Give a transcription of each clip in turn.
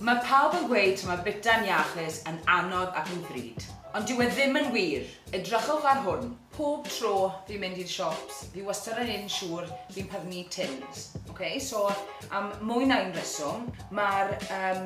Mae pawb yn gweud taw mae bwyta'n iachus, yn anodd ac yn ddrud. Ond dyw e ddim yn wir! Edrychwch ar hwn. Pob tro fi'n mynd i'r siops, fi wastad yn un siŵr fi'n prynu tins. Ok, so am mwy na un reswm, mae'r um,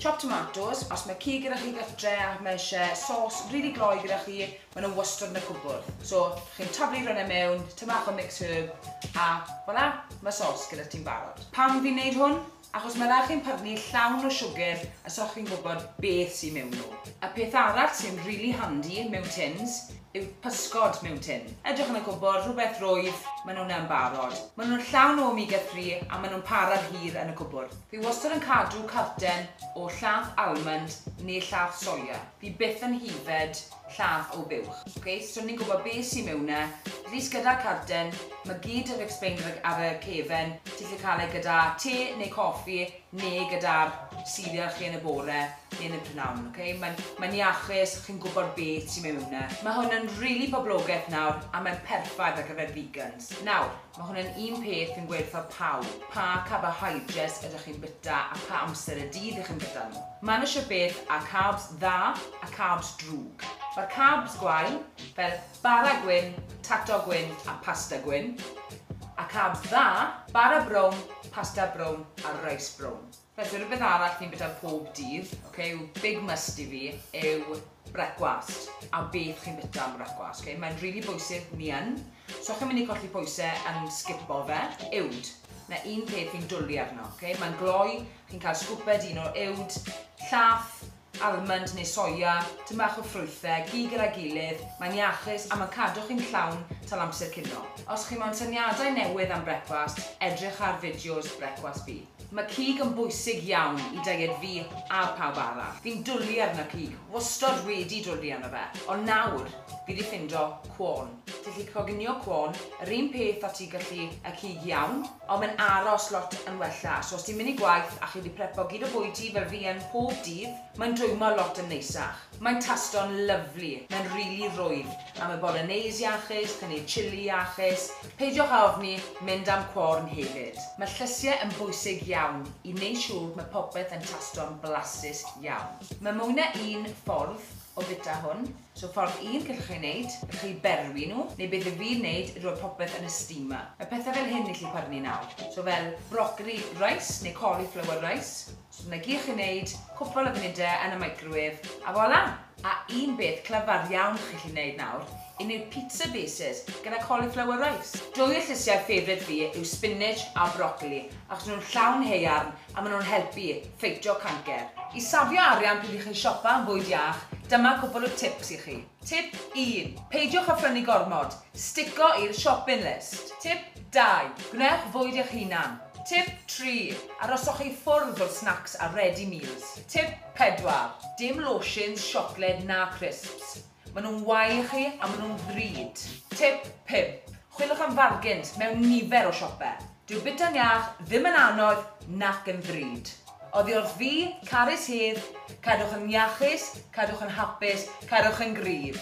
Chopped tomatoes, os mae cig gyda chi ga'th dre a mae eisiau sos rili gloi gyda chi, maen nhw wastad yn y cwbwrdd. So, chi'n taflu rhywun e mewn, tynnu bach o mix herb, a voilà, mae sos gyda ti'n barod. Pam fi'n neud hwn? Achos mae rhaid chi'n pyrnu llawn o siwgr a so chi'n gwybod beth sy'n mewn nhw. Y peth arall sy'n rili handi mewn tins yw pysgod mewn tin. Edrych yn y cwbwrdd, rhywbeth rwydd, maen nhw'n yn barod. Maen nhw'n llawn o omega three a maen nhw'n parad hir yn y cwbwrdd. Fi wastad yn cadw carten o llath almond neu llath soia. Fi byth yn hyfed llath o buwch. Ok, so ni'n gwybod be sy mewn e. At least gyda'r carten, ma gyd yr explained ar y ar y cefen, ti'n gallu cael e gyda te neu coffi neu gyda'r cereal chi yn y bore neu yn y prynawn, ok? Mae'n mae'n iachus, chi'n gwybod beth sy mewn e. Mae hwn yn rili poblogeth nawr a mae'n perffaith ar gyfer vegans. Nawr, Mae hwn yn un peth fi'n gweud wrtho pawb, pa carbohydrates ydych chi'n bwyta a pha amser y dydd y'ch chi'n bwyta nhw. Maen nhw shwt beth â carbs dda a carbs drwg. Mae'r carbs gwael, fel bara gwyn, tato gwyn a pasta gwyn, a carbs dda, bara brown, pasta brown a reis brown. Reit, so rhywbeth arall fi'n bita pob dydd, ok, yw big must i fi yw brecwast, a beth chi'n bita am brecwast, ok? Mae'n rili really bwysig, mi yn, so chi'n mynd i colli pwysau yn sgipo fe, uwd. Na un peth fi'n dwlu arno, ok? Mae'n gloi, chi'n cael sgwped un o uwd, llath, almwnd neu soia, tym bach o ffrwythau, gig gyda'i gilydd, mae'n iachus a mae'n cadw chi'n llawn tal amser cinio. Os chi moyn syniadau newydd am brecwast, edrych ar fideos Brecwast Fi. Mae cig yn bwysig iawn i deiet fi a pawb arall. Fi'n dwli arno cig, wastod wedi dwli arno fe, ond nawr fi 'di ffindo cwôn. Ti'n gallu coginio cwôn, yr un peth a ti'n gallu y cig iawn. Ond mae'n aros lot yn wella. So os ti'n mynd i gwaith a chi wedi prepo gyd o bwyd ti fel fi yn pob dydd, mae'n dwymo lot yn neisach. Mae'n tasto'n lyfli, mae'n rili rwydd, a mae bolognese iachus, paneer chilli iachus, peidiwch â ofni, mynd am corn hefyd. Mae llysiau yn bwysig iawn i wneud siŵr bod mae popeth yn tasto'n flasus iawn. Mae mwy na un ffordd o fwyta hwn. So ffordd un gallwch chi wneud, gallwch chi berwi nhw, neu be dw i'n wneud yw rhoi popeth yn y steamer. Mae pethau fel hyn yn gallu pyrnu nawr. So fel broccoli rice neu cauliflower rice. So dyna gyd chi'n wneud, cwpl o funudau yn y microwave, a voilà! A un beth clyfar iawn chi'n gallu wneud nawr, un yw'r pizza bases gyda cauliflower rice. Dwy o llysiau ffefryt fi yw spinach a broccoli achos nhw'n llawn haearn a maen nhw'n helpu ffeitio cancer. I safio arian pryd i chi siopa am fwyd iach, dyma cwpl o tips i chi. Tip 1. Peidiwch â phrynu gormod, stico i'r shopping list. Tip 2. Gwnewch fwyd eich hunan. Tip 3. Aroswch i ffwrdd o'r snacks a ready meals. Tip 4. Dim lotions, siocled na crisps. Maen nhw'n wael i chi a maen nhw'n ddrud. Tip pump, chwiliwch am fargins mewn nifer o siopau. Dyw bwyta'n iach ddim yn anodd nac yn ddrud. Oddi wrth fi, carys hedd, cadwch yn iachus, cadwch yn hapus, cadwch yn gryf.